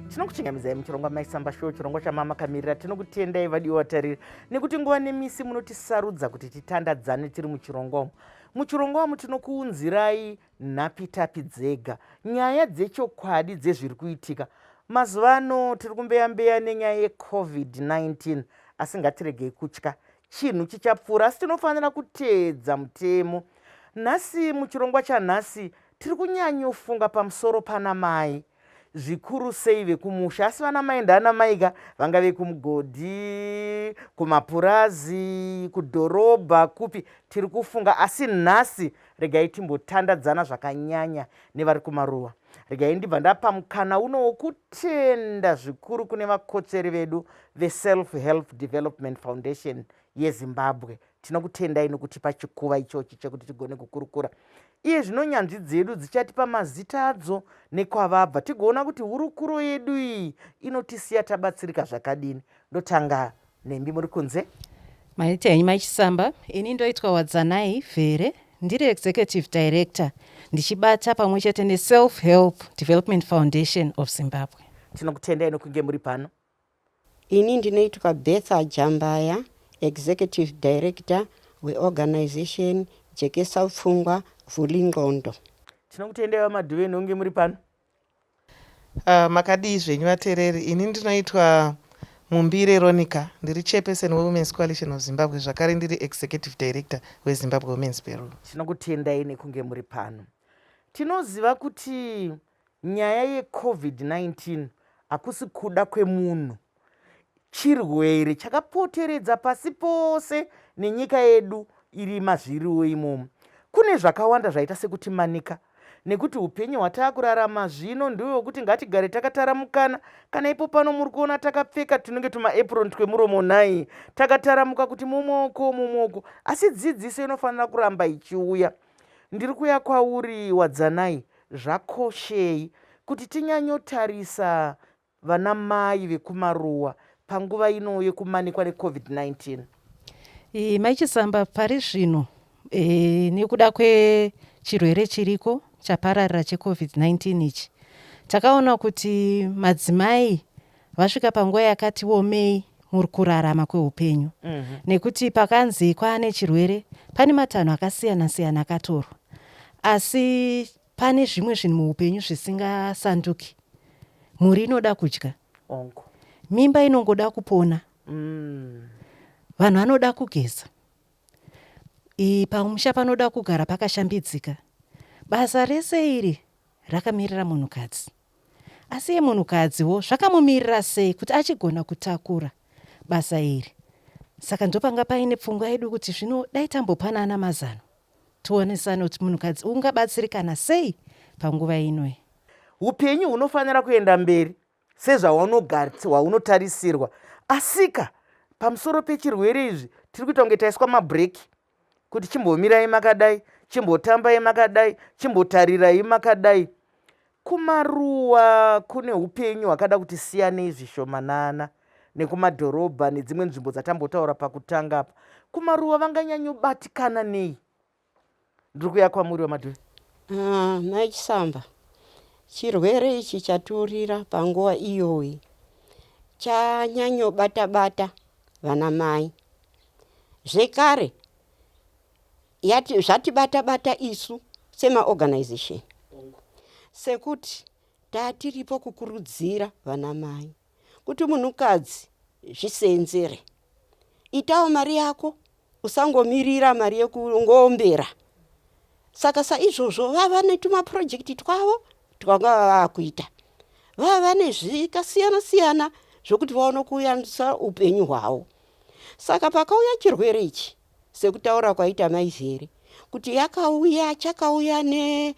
tinokuchingamidzai muchirongwa maisamba show chirongwa chamama kamirira tinokutendai vadiwa vatariri nekuti nguva nemisi munotisarudza kuti titandadzane tiri muchirongwa umu muchirongwa umu tinokuunzirai nhapitapi dzega nyaya dzechokwadi dzezviri kuitika mazuva ano tiri kumbeyambeya nenyaya yecovid-19 asi ngatiregei kutya Chinhu chichapfuura asi tinofanira kuteedza mutemo. Nhasi muchirongwa chanhasi tiri kunyanyofunga pamusoro pana mai zvikuru sei vekumusha asi vana mai ndana maika vanga vekumugodhi kumapurazi kudhorobha kupi tiri kufunga asi nhasi regai timbotandadzana zvakanyanya nevari kumaruwa regai ndibva ndapa mukana uno wokutenda zvikuru kune vakotsveri vedu veself help development foundation yezimbabwe tinokutendai nokutipa chikuva ichochi chekuti tigone kukurukura iye zvino nyanzvi dzedu dzichatipa mazita adzo nekwavabva tigoona kuti hurukuro yedu iyi inotisiya tabatsirika zvakadini ndotanga Nhembi muri kunze. Maita henyu mai Chisamba, ini ndoitwa Wadzanai Vhere ndiri executive director ndichibata pamwe chete neSelf Help Development Foundation of Zimbabwe. Tinokutendai nokunge muri pano. Ini ndinoitwa Betha Jambaya, executive director weorganization Jekesa Pfungwa Vhuli Ndxondo. Tinokutendai vaMadhuve nokunge muri pano. Ahh makadii zvenyu vatereri ini ndinoitwa Mumbire Ronica ndiri chairperson weWomen's Coalition of Zimbabwe zvakare ndiri executive director weZimbabwe Women's Bureau. Tinokutendai nekunge muri pano. Tinoziva kuti nyaya yeCovid-19 hakusi kuda kwemunhu. Chirwere chakapoteredza pasi pose nenyika yedu iri mazviriwo imomo. Kune zvakawanda zvaita sekutimanika nekuti upenyu hwataakurarama zvino ndiwo wekuti ngatigare takataramukana kana ipo pano muri kuona takapfeka tunenge tumaepron twemuromo nhai takataramuka kuti mumoko mumoko asi dzidziso inofanira kuramba ichiuya ndiri kuya kwauri wadzanai zvakoshei kuti tinyanyotarisa vanamai vekumaruwa panguva ino yekumanikwa necovid-19. E, mai chisamba pari zvino e, nekuda kwechirwere chiriko chapararira checovid-19 ichi takaona kuti madzimai vasvika panguva yakati womei muri kurarama kweupenyu mm -hmm. nekuti pakanzi kwaane chirwere pane matanho akasiyana siyana akatorwa asi Pane zvimwe zvinhu muupenyu zvisingasanduki. Mhuri inoda kudya. Ongo. Mimba inongoda kupona. Mm. Vanhu vanoda kugeza. Pamusha panoda kugara pakashambidzika. Basa rese iri rakamirira munhukadzi. Asi iye munhukadziwo zvakamumirira sei kuti achigona kutakura basa iri? Saka ndopanga paine pfungwa yedu kuti zvino dai tambopanana mazano. Tionesane kuti munhukadzi ungabatsirikana sei panguva inoi. Hupenyu hunofanira kuenda mberi sezvahwaunotarisirwa asika pamusoro pechirwere izvi tiri kuita kunge taiswa mabreaki kuti chimbomirai makadai chimbotambai makadai chimbotarirai makadai Kumaruwa kune upenyu hwakada kuti siyanei zvishomanana nekumadhorobha nedzimwe nzvimbo dzatambotaura pakutanga apa. Kumaruwa vanganyanyobatikana nei? Ndiri kuya kwamuri vamadhuve. Ah, nhai Chisamba, chirwere ichi chaturira panguva iyoyi chanyanyobata-bata vanamai zvekare Yati, zvatibata bata isu semaorganisation sekuti tatiripo kukurudzira vanamai kuti munhukadzi zviseenzere. Itawo mari yako usangomirira mari yekungoombera. Saka saizvozvo vava netumaprojekti twavo twanga vavakuita vava vane zvikasiyana siyana zvokuti vaone kuyambisa upenyu hwavo saka pakauya chirwere ichi Sekutaura kwaita mai Zere kuti yakauya chakauya ne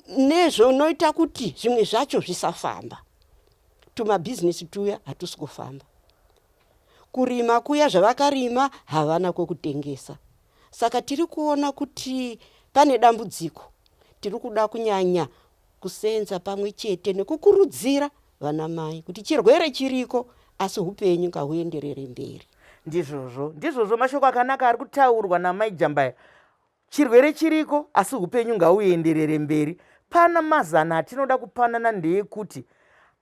nezvonoita kuti zvimwe zvacho zvisafamba. Tumabhizinesi tuya hatusi kufamba. Kurima kuya zvavakarima havana kwekutengesa. Saka tiri kuona kuti pane dambudziko. Tiri kuda kunyanya kuseenza pamwe chete nekukurudzira vana mai kuti chirwere chiriko asi upenyu ngahuenderere mberi ndizvozvo ndizvozvo mashoko akanaka ari kutaurwa namai jambaya chirwere chiriko asi upenyu ngauenderere mberi pana mazano atinoda kupanana ndeekuti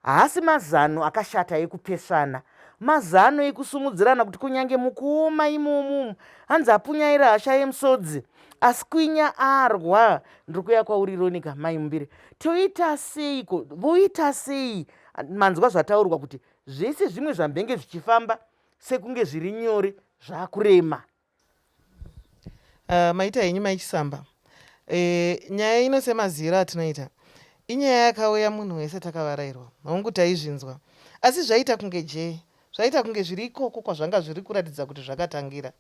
haasi mazano akashata ekupesvana mazano ekusumudzirana kuti kunyange mukuoma imomumu hanzi apunyaira hasha yemusodzi asi kwinya arwa ndiri kuya kwauri ronika mai mumbire toita seiko voita sei manzwa zvataurwa kuti zvese zvimwe zvambenge zvichifamba sekunge zviri nyore zvakurema uh, maita henyu maichisamba e, eh, nyaya ino semaziyiro atinoita inyaya yakauya munhu wese takavarairwa hongu taizvinzwa asi zvaita kunge jee zvaita kunge zviri ikoko kwazvanga zviri kuratidza kuti zvakatangira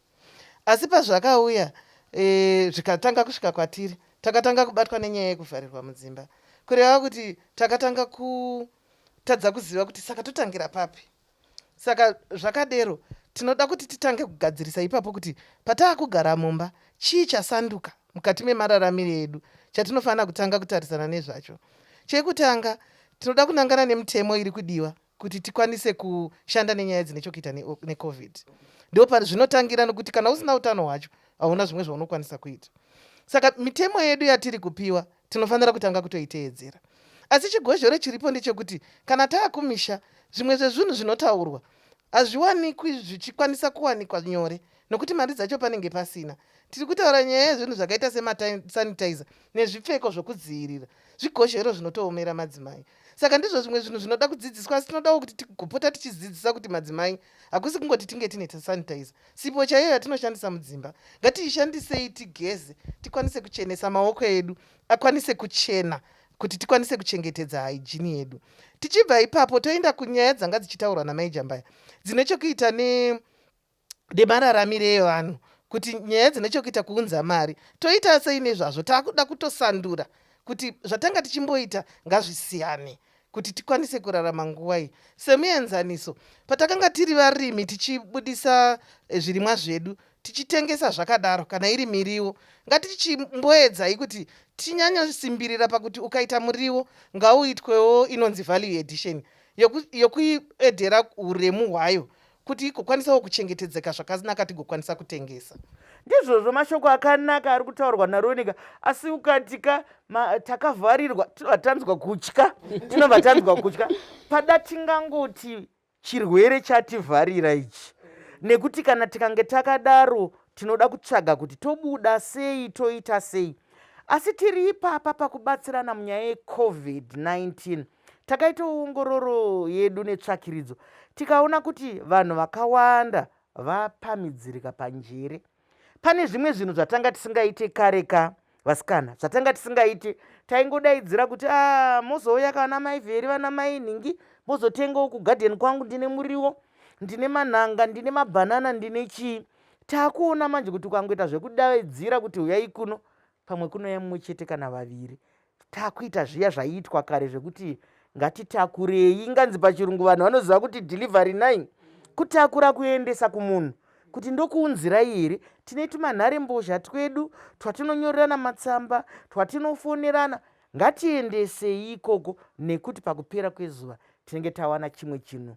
asi pazvakauya e, zvikatanga kusvika kwatiri takatanga kubatwa nenyaya yekuvharirwa mudzimba kureva kuti takatanga kutadza kuziva kuti saka totangira papi saka zvakadero tinoda kuti titange kugadzirisa ipapo kuti pataa kugara mumba chii chasanduka mukati memararamiro edu chatinofanira kutanga kutarisana nezvacho chekutanga tinoda kunangana nemutemo iri kudiwa kuti tikwanise kushanda nenyaya dzine chokuita necovid ndo pazvinotangira nokuti kana usina utano hwacho hauna zvimwe zvaunokwanisa kuita saka mitemo yedu yatiri kupiwa tinofanira kutanga kutoiteedzera asi chigozhore chiripo ndechekuti kana taakumisha zvimwe zvezvinhu zvinotaurwa hazviwanikwi zvichikwanisa kuwanikwa nyore nokuti mari dzacho panenge pasina tiri kutaura nyaya yezvinhu zvakaita semasanitizer nezvipfeko zvokudzivirira zvigozhero zvinotoomera madzimai saka ndizvo zvimwe zvinhu zvinoda kudzidziswa asi tinodawo kuti tigopota tichidzidzisa kuti madzimai hakusi kungoti tinge tine tasanitizer sipo chaiyo yatinoshandisa mudzimba ngatiishandisei tigeze tikwanise kuchenesa maoko edu akwanise kuchena kuti tikwanise kuchengetedza haijini yedu tichibva ipapo toenda kunyaya dzanga dzichitaurwa namaijambaya dzine chokuita ne nemararamire evanhu kuti nyaya dzine chokuita kuunza mari toita sei nezvazvo taakuda kutosandura kuti zvatanga tichimboita ngazvisiyane kuti tikwanise kurarama nguva iyi semuenzaniso patakanga tiri varimi tichibudisa eh, zvirimwa zvedu tichitengesa zvakadaro kana iri miriwo ngatichimboedzai kuti tinyanyosimbirira pakuti ukaita muriwo ngauitwewo inonzi value edition yokuedhera uremu hwayo kuti igokwanisawo kuchengetedzeka zvakanaka tigokwanisa kutengesa ndizvozvo mashoko akanaka ari kutaurwa naronika asi ukatika takavharirwa tinobva tanzwa kutya tinobva tanzwa kutya pada tingangoti chirwere chativharira ichi nekuti kana tikange takadaro tinoda kutsvaga kuti tobuda sei toita sei asi tiri ipapa pakubatsirana munyaya yecovid-19 Takaitawo ongororo yedu netsvakiridzo tikaona kuti vanhu vakawanda vapamidzirika panjere. Pane zvimwe zvinhu zvatanga tisingaite kare ka vasikana zvatanga tisingaite taingodaidzira kuti a ah, mozouya ka vana mai vheri vana mai nhingi mozotengawo kugadheni kwangu ndine muriwo ndine manhanga ndine mabhanana ndine chii takuona manje kuti ukangoita zvekudaidzira kuti huyai kuno pamwe kunouya mumwe chete kana vaviri takuita zviya zvaiitwa kare zvekuti ngatitakurei inganzi pachirungu vanhu vanoziva kuti delivery nine kutakura kuendesa kumunhu kuti ndokuunzirai here tine tumanhare mbozha twedu twatinonyorerana matsamba twatinofonerana ngatiendesei ikoko nekuti pakupera kwezuva tinenge tawana chimwe chinhu